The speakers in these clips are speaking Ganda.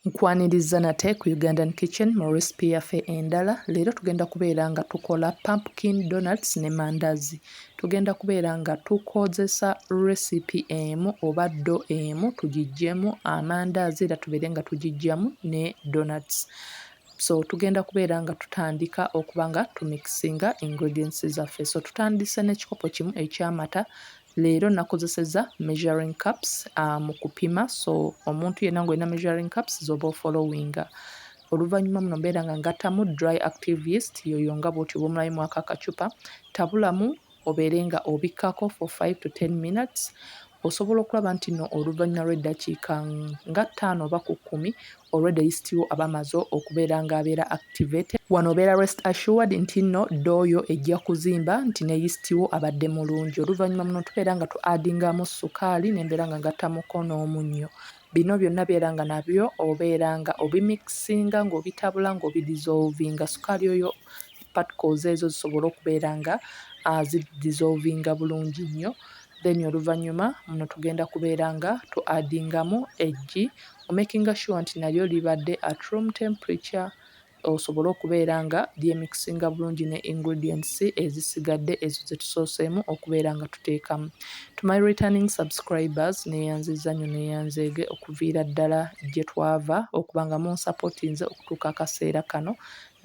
Nkwaniriza nate ku Ugandan kitchen mu recipe yaffe endala. Leero tugenda kubeera nga tukola pumpkin donuts ne mandazi. Tugenda kubeera nga tukozesa recipe emu oba do emu tugijjemu amandazi era tubeere nga tugijjamu ne donuts. So tugenda kubeera nga tutandika okuba nga tumixinga ingredients zaffe. So tutandise n'ekikopo kimu eky'amata Leero nakozeseza measuring cups mu kupima so omuntu yenna nga olina measuring cups z'oba ofolowinga. Oluvannyuma muno mbeera nga ngattamu dry active yeast yoyo nga bw'otyo bw'omulayo mwako akacupa, tabulamu obeere nga obikkako for five to ten minutes osobola okulaba nti nno oluvannyuma lw'eddakiika nga ttaano oba ku kkumi already list wo aba amaze okubeera nga abeera activated. Wano obeera rest assured nti nno door yo ejja kuzimba nti ne list wo abadde mulungi. Oluvannyuma muno tubeera nga tu addingamu ssukaali ne mbeera nga ngattamuko n'omunnyo. Bino byonna beera nga nabyo obeera nga obimikisinga ng'obitabula ng'obi dissolvinga ssukaali oyo particles ezo zisobole okubeera nga zi dissolvinga bulungi nnyo. Then oluvannyuma muno tugenda kubeera nga tu addingamu eggi O makinga sure nti nalyo libadde at room temperature osobole okubeera nga lyemixinga bulungi ne ingredients ezisigadde ezo zetusooseemu okubeera nga tuteekamu. To my returning subscribers neyanziza nyo neyanzeege okuviira ddala jetwaava okuba nga munsapotinze okutuuka akaseera kano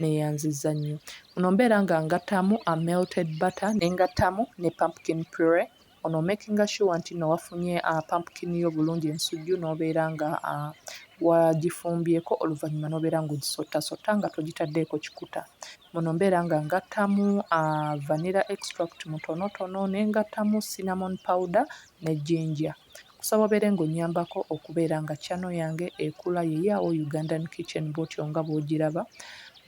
neyanziza nyo. Muno mbeera nga ngattamu a melted butter nengattamu ne pumpkin puree Ono omakinga sure nti no wafunye a pumpkin yo bulungi ensujju nobeera nga a wagifumbyeko oluvanyuma nobeera nga ogisotta sotta nga togitaddeeko kikuta. Muno mbeera nga ngattamu a vanilla extract mutonotono nengattamu cinnamon powder ne ginger. Nsaba obeere nga onyambako okubeera nga channel yange ekula ye ya wo Ugandan kitchen bwotyo nga bwojiraba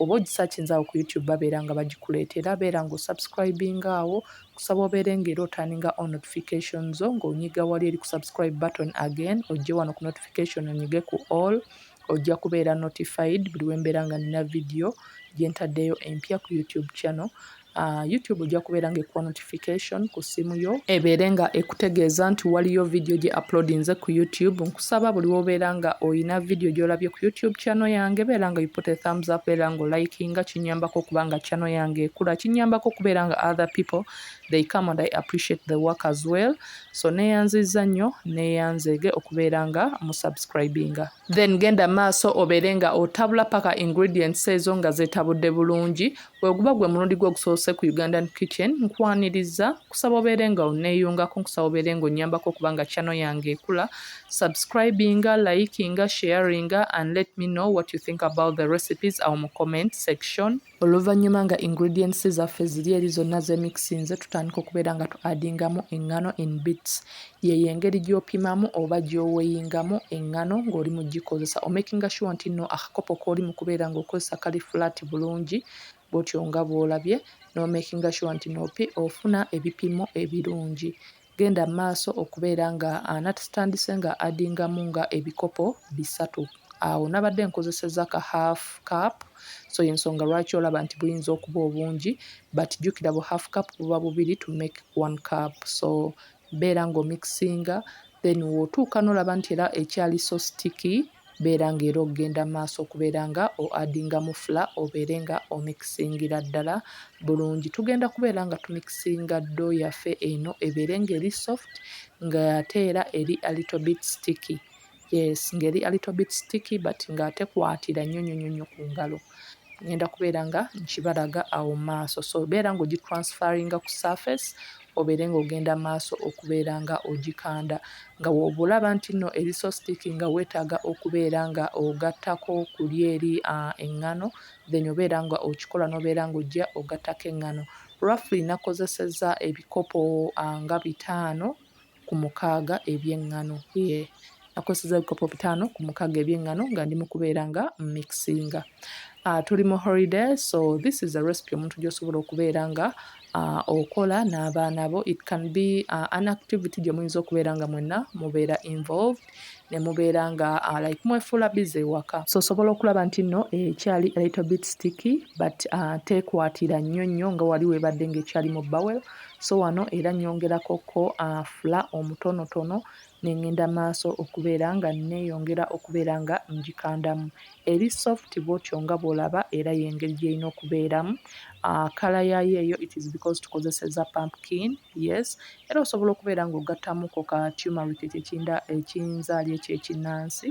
oba ogisachinze awo ku YouTube babeera nga bagikuleeta era beera nga osubscribinga awo kusaba obeere nga era otaninga on notification zo nga onyiga wali eri ku subscribe button again ojje wano ku notification onyige ku all ojja kubeera notified buli wembeera nga nina video gyentaddeyo empya ku YouTube channel Uh, youtube ojja kubeera nga ekuwa notification ku ssimu yo ebeere nga ekutegeeza nti waliyo vidiyo gye uploadinze ku youtube nkusaba buli wobeera nga olina vidiyo gyolabye ku youtube channel yange beera nga yupute thumbs up beera nga olikinga kinyambako okuba nga channel yange ekula kinyambako okubeera nga other people they come and i appreciate the work as well so neyanziza nnyo neyanzeege okubeera nga musubscribinga then genda maaso obeere nga otabula paka ingredients ezo nga zetabudde bulungi weguba gwe mulundi gwe ogusoose ku ugandan kitchen nkwaniriza kusaba obeere nga oneeyungako nkusaba obeere nga onyambako okubanga channel yange ekula subscribinga likinga sharinga and let me know what you think about the recipes awo mu comment section Oluvannyuma nga ingredients zaffe ziri eri zonna zemixinze tutandika okubeera nga tu addingamu eŋŋano in bits. Yeeyo engeri gy'opimamu oba gy'oweyingamu eŋŋano ng'oli mu gikozesa. Omakinga sure nti nno akakopo k'oli mu kubeera ng'okozesa kali flat bulungi bw'otyo nga bw'olabye n'omakinga sure nti nno ofuna ebipimo ebirungi. Genda mumaaso okubeera nga nati tutandise nga addingamu nga ebikopo bisatu awo nabadde nkozeseza ka half cup so yensonga lwaki olaba nti buyinza okuba obungi but jukira bu half cup buba bubiri to make one cup so beera nga omixinga then wotuuka nolaba nti era ekyali so sticky. beera nga era ogenda mu maaso okubeera nga o adingamu fula obeere nga omikisingira ddala bulungi. Tugenda kubeera nga tumikisinga ddo yaffe eno ebeere nga eri soft nga ate era eri a little bit sticky yes nga eri a little bit sticky but nga tekwatira nnyo nnyo nnyo nnyo ku ngalo. Ngenda kubeera nga nkibalaga awo mu maaso so beera nga ogitransferinga ku surface obeere ng'ogenda maaso okubeera nga ogikanda nga wooba olaba nti nno eri so sticky nga weetaaga okubeera nga ogattako ku lyeri eŋŋano then obeera nga okikola n'obeera nga ojja ogattako eŋŋano. Roughly nakozesezza ebikopo nga bitaano ku mukaaga eby'eŋŋano. Yee, nakozesezza ebikopo bitaano ku mukaaga eby'eŋŋano nga ndi mu kubeera nga mmixinga. Uh, tuli mu holiday so this is a recipe omuntu gy'osobola okubeera nga uh, okola n'abaana bo. It can be uh, an activity gye muyinza okubeera nga mwenna mubeera involved. ne mubeera nga uh, like mwefuula bize ewaka so osobola okulaba nti nno ekyali eh, little bit sticky but uh, tekwatira nnyo nnyo nga wali webadde ngaekyali mu bowel so wano era nyongerako ko uh, fula omutonotono nengenda maaso okubeera nga neyongera okubeera nga ngikandamu Eri soft bwotyo nga bwolaba era yengeri gyerina okubeeramu kala yayo eyo it is because tukozeseza pumpkin yes era osobola okubeera nga ogattamuko ka tumeric ekyo ekinda ekinzaali ekyo ekinansi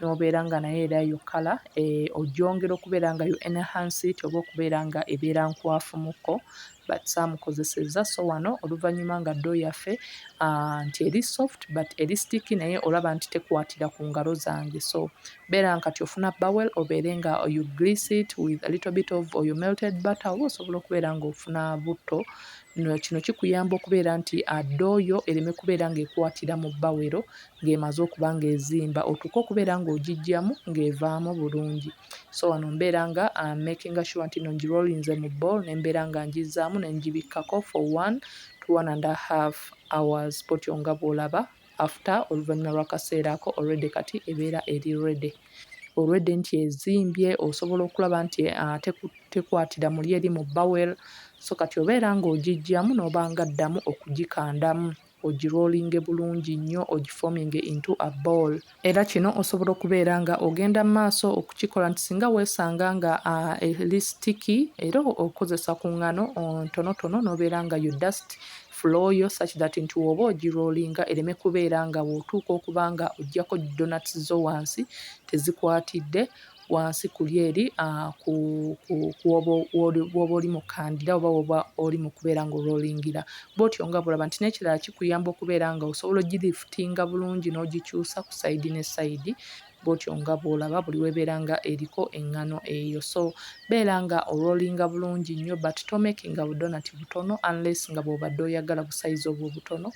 nobeera nga naye era eyo kala eh, ogyongera okubeera nga you enhance it oba okubeera nga ebeera nkwafu muko but saamukozesezza so wano oluvannyuma nga ddoo yaffe ah, nti eri soft but eri sticky naye olaba nti tekwatira ku ngalo zange so beera nkati ofuna bowel obeere nga you grease it with a little bit of oyo melted butter oba osobola okubeera ng'ofuna butto kino kikuyamba okubeera nti addooyo ah, ereme kubeera ng'ekwatira mu bawero ng'emaze okuba ng'ezimba otuuke okubeera ng'ogijjamu ng'evaamu bulungi so wano mbeera nga uh, making sure nti no ngirolinze mu ball ne mbeera nga ngizzaamu ne ngibikkako for one to one and a half hours potyo nga bw'olaba after oluvannyuma lw'akaseera ako already kati ebeera eri ready olwedde nti ezimbye osobola okulaba nti uh, tekwatira muli eri mu bowel so kati obeera ng'ogijjamu n'oba nga ddamu okugikandamu ogi rollinge bulungi nnyo ogi forminge into a ball. Era kino osobola okubeera nga ogenda mumaaso okukikola nti singa wesanga nga eli sticky era okozesa ku ngano ntonotono nobeera nga you dust floor yo such that nti woba ogi rollinga ereme kubeera nga wotuuka okuba nga ojjako donuts zo wansi tezikwatidde wansi kuli eri kuoba oli mukandira oba woba oli mukubeera nga orolingira bwotyo nga bworaba nti nekirala kikuyamba okubeera nga osobola ogilifutinga bulungi nogikyusa ku sayidi ne sayidi bwotyo nga bworaba buli webeera nga eriko engano eyo so beera nga orolinga bulungi nnyo but tomekinga budonati butono unless nga bwobadde oyagala busayizi obwo obutono.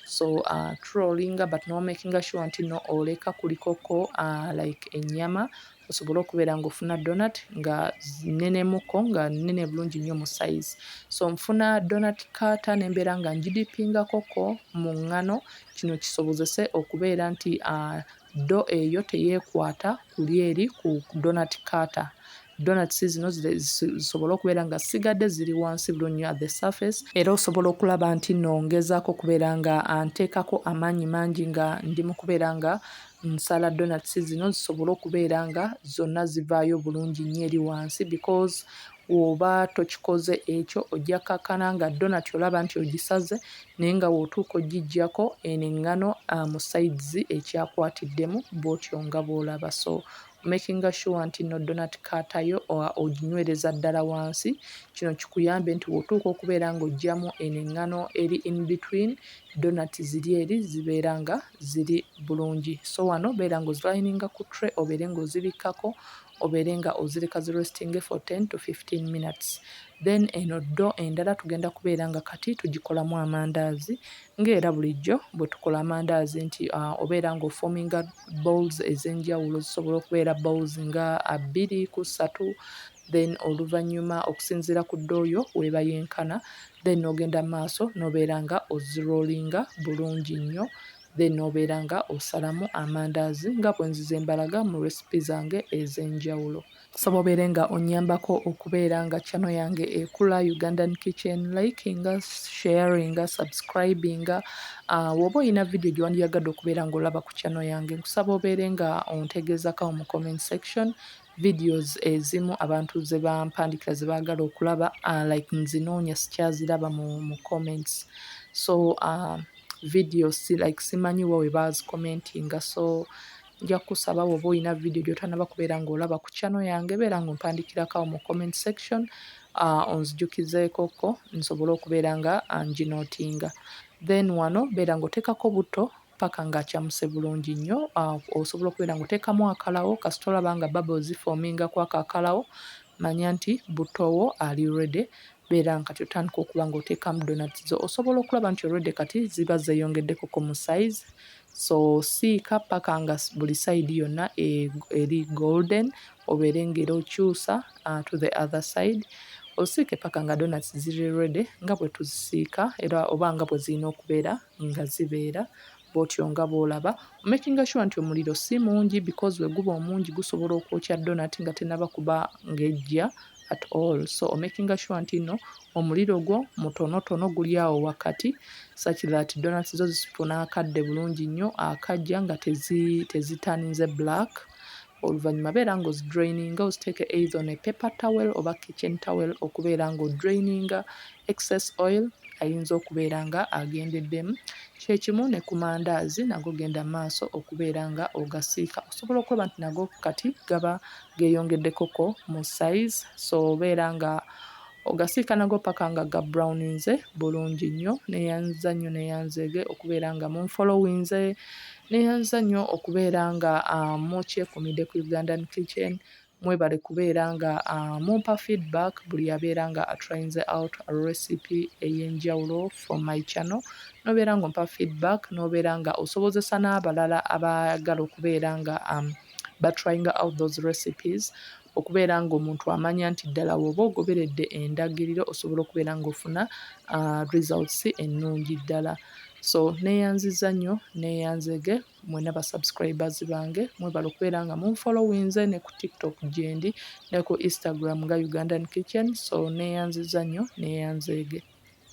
so uh, trollinga but nomakinga sure nti no oleka kulikoko uh, like enyama osobole okubeera nga ofuna donat nga nenemuko nga nene bulungi nnyo mu size so nfuna donat kata nembeera nga njidipingakoko mu ngano kino kisobozese okubeera nti uh, ddo eyo teyekwata kuli eri ku donut cutter donuts zino zisobole okubeera nga sigadde ziri wansi bulunyo at the surface era osobola okulaba nti no ngezaako okubeera nga anteekako amaanyi mangi nga ndi mu kubeera nga nsala donuts zino zisobole okubeera nga zonna zivaayo bulungi nnyo eri wansi because Woba tokikoze ekyo ojja kakana nga donut olaba nti ogisaze naye nga wotuuka ogijjako eno engano mu sides ekyakwatiddemu bwotyo nga bwolaba so omakinga sure nti no donut cutter yo oginywereza ddala wansi kino kikuyambe nti wotuuka okubeera nga ojjamu eno engano eri in between donut ziri eri zibeera nga ziri bulungi so wano beera nga ozilininga ku tray obeere nga ozibikkako obeere nga ozireka zi restinge for ten to fifteen minutes then eno ddo endala tugenda kubeera nga kati tugikolamu amandaazi ng'era bulijjo bwe tukola amandaazi nti uh, obeera nga ofominga bowls ez'enjawulo zisobola okubeera bowls nga bbiri ku ssatu then oluvannyuma okusinziira ku ddooyo weeba yenkana then n'ogenda maaso n'obeera nga ozirolinga bulungi nnyo then nobeera nga osalamu amandaazi nga bwenzize mbalaga mu recipe zange ezenjawulo. Nsaba obeere nga onyambako okubeera nga channel yange ekula Ugandan kitchen likinga, sharinga, subscribinga woba olina video gyewandiyagadde okubeera nga olaba ku channel yange nkusaba obeere nga ontegeezako awo mu comment section Videos ezimu abantu zebampandikira zebagala okulaba uh, like nzinoonya sikyaziraba mu, mu comments so uh, video si like simanyi wa webazicommentinga so nja kusaba woba olina video gyotanaba kubeera ngaolaba ku channel yange beera nga ompandikirakawo mu comment section uh, onzijukizeekoko nsobole okubeera nga uh, njinotinga then wano beera ngaoteekako butto paka nga acamuse bulungi nnyo ah, osobola okubeera nga oteekamu akalawo kasita olaba nga babo zifoominga kwako akalawo manya nti buttowo ali rede beera nga kati otandika okuba nga oteekamu donat zo osobola okulaba nti olwedde kati ziba zeeyongeddeko ku mu size so siika paka nga buli sayidi yonna e, eri golden obeere ngaera okyusa ah, to the other side osiike paka nga donat ziri rede nga bwe tuzisiika era oba nga bwe zirina okubeera nga zibeera bwotyo nga bwolaba omakinga sure nti omuliro si mungi because weguba omungi gusobola okwokya donat nga tenaba kuba ngejja at all so omakinga sure nti no omuliro gwo mutonotono guli awo wakati such that donat zo zifuna akadde bulungi nnyo akajja nga tezitaninze black Oluvanyuma beera nga ozidraininga oziteeke either on a paper towel oba kitchen towel okubeera nga odraininga excess oil ayinza okubeera nga agendeddemu. Kyekimu ne ku mandaazi nago genda maaso okubeera nga ogasiika osobola okulaba nti nago kati gaba geyongeddeko ko mu size so beera nga Ogasiika nago paka nga ga browninze bulungi nnyo. Neyanziza nnyo neyanzeege okubeera nga munfolowinze. Neyanziza nnyo okubeera nga mukyekumidde ku Ugandan kitchen. Mwebale kubeera nga mumpa feedback buli abeera nga atrayinze out recipe eyenjawulo from my channel. Nobeera nga ompa feedback nobeera nga osobozesa n'abalala abaagala okubeera nga ba trying out those recipes okubeera ng'omuntu amanya nti ddala wooba ogoberedde endagiriro osobola okubeera ng'ofuna uh, results ennungi ddala so neyanziza nnyo neyanzege mwena basubscribers bange mwebala okubeera nga munfollowinze ne ku tiktok gyendi ne ku instagram nga ugandan kitchen so neyanziza nnyo neyanzege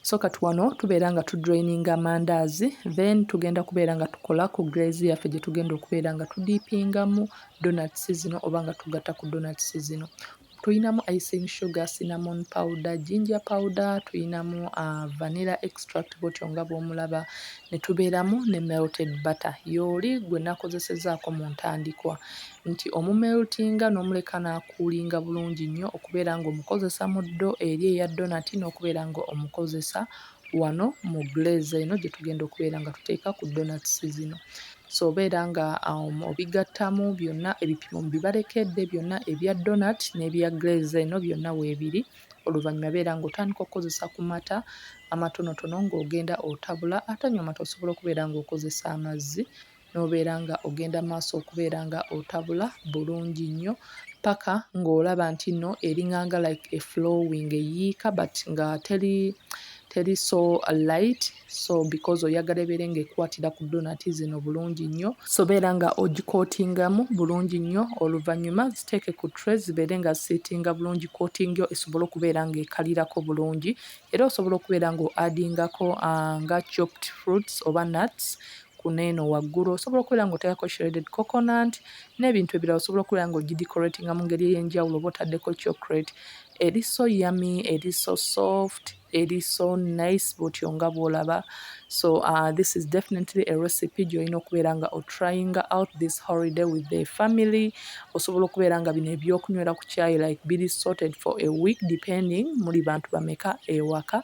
so kati wano tubeera nga tudraininga amandaazi then tugenda kubeera nga tukola ku graze yaffe gye tugenda okubeera nga tudiipingamu donats zino oba nga tugatta ku donats zino tulinamu icing sugar cinnamon powder ginger powder tulinamu uh, vanilla extract botyo nga bwomulaba ne tubeeramu ne melted butter yooli gwe nakozesezaako mu ntandikwa nti omumeltinga n'omuleka n'akuulinga bulungi nnyo okubeera ng'omukozesa mu ddo eri eya donati n'okubeera ng'omukozesa wano mu glaze eno gye tugenda okubeera nga tuteeka ku donats zino so obeera nga um, obigattamu byonna ebipimo bibalekedde byonna ebya donat n'ebya glaze eno byonna weebiri oluvannyuma beera ng'otandika okukozesa ku mata amatonotono ng'ogenda otabula atanywa mata osobola okubeera ng'okozesa amazzi n'obeera nga ogenda maaso okubeera nga otabula bulungi nnyo paka ng'olaba nti no eringanga like a flowing eyiika but nga teri teri so light so because oyagala ebeere ng'ekwatira ku donati zino bulungi nnyo sobeera nga ogikootingamu bulungi nnyo oluvannyuma ziteeke ku tre zibeere nga ziseetinga bulungi kootingyo esobole okubeera ng'ekalirako bulungi era osobola okubeera ng'oadingako ah, nga chopped fruits oba nuts kuno eno waggulu osobola okubeera ng'oteekako shredded coconut n'ebintu ebirala osobola okubeera ng'ogidecoratinga mu ngeri ey'enjawulo oba otaddeko chocolate eri so yummy eri so soft eri so nice bw'otyo nga bw'olaba so uh, this is definitely a recipe gy'olina okubeera nga otrayinga out this holiday with the family osobola okubeera nga bino ebyokunywera ku kyayi like biri sorted for a week depending muli bantu bameka ewaka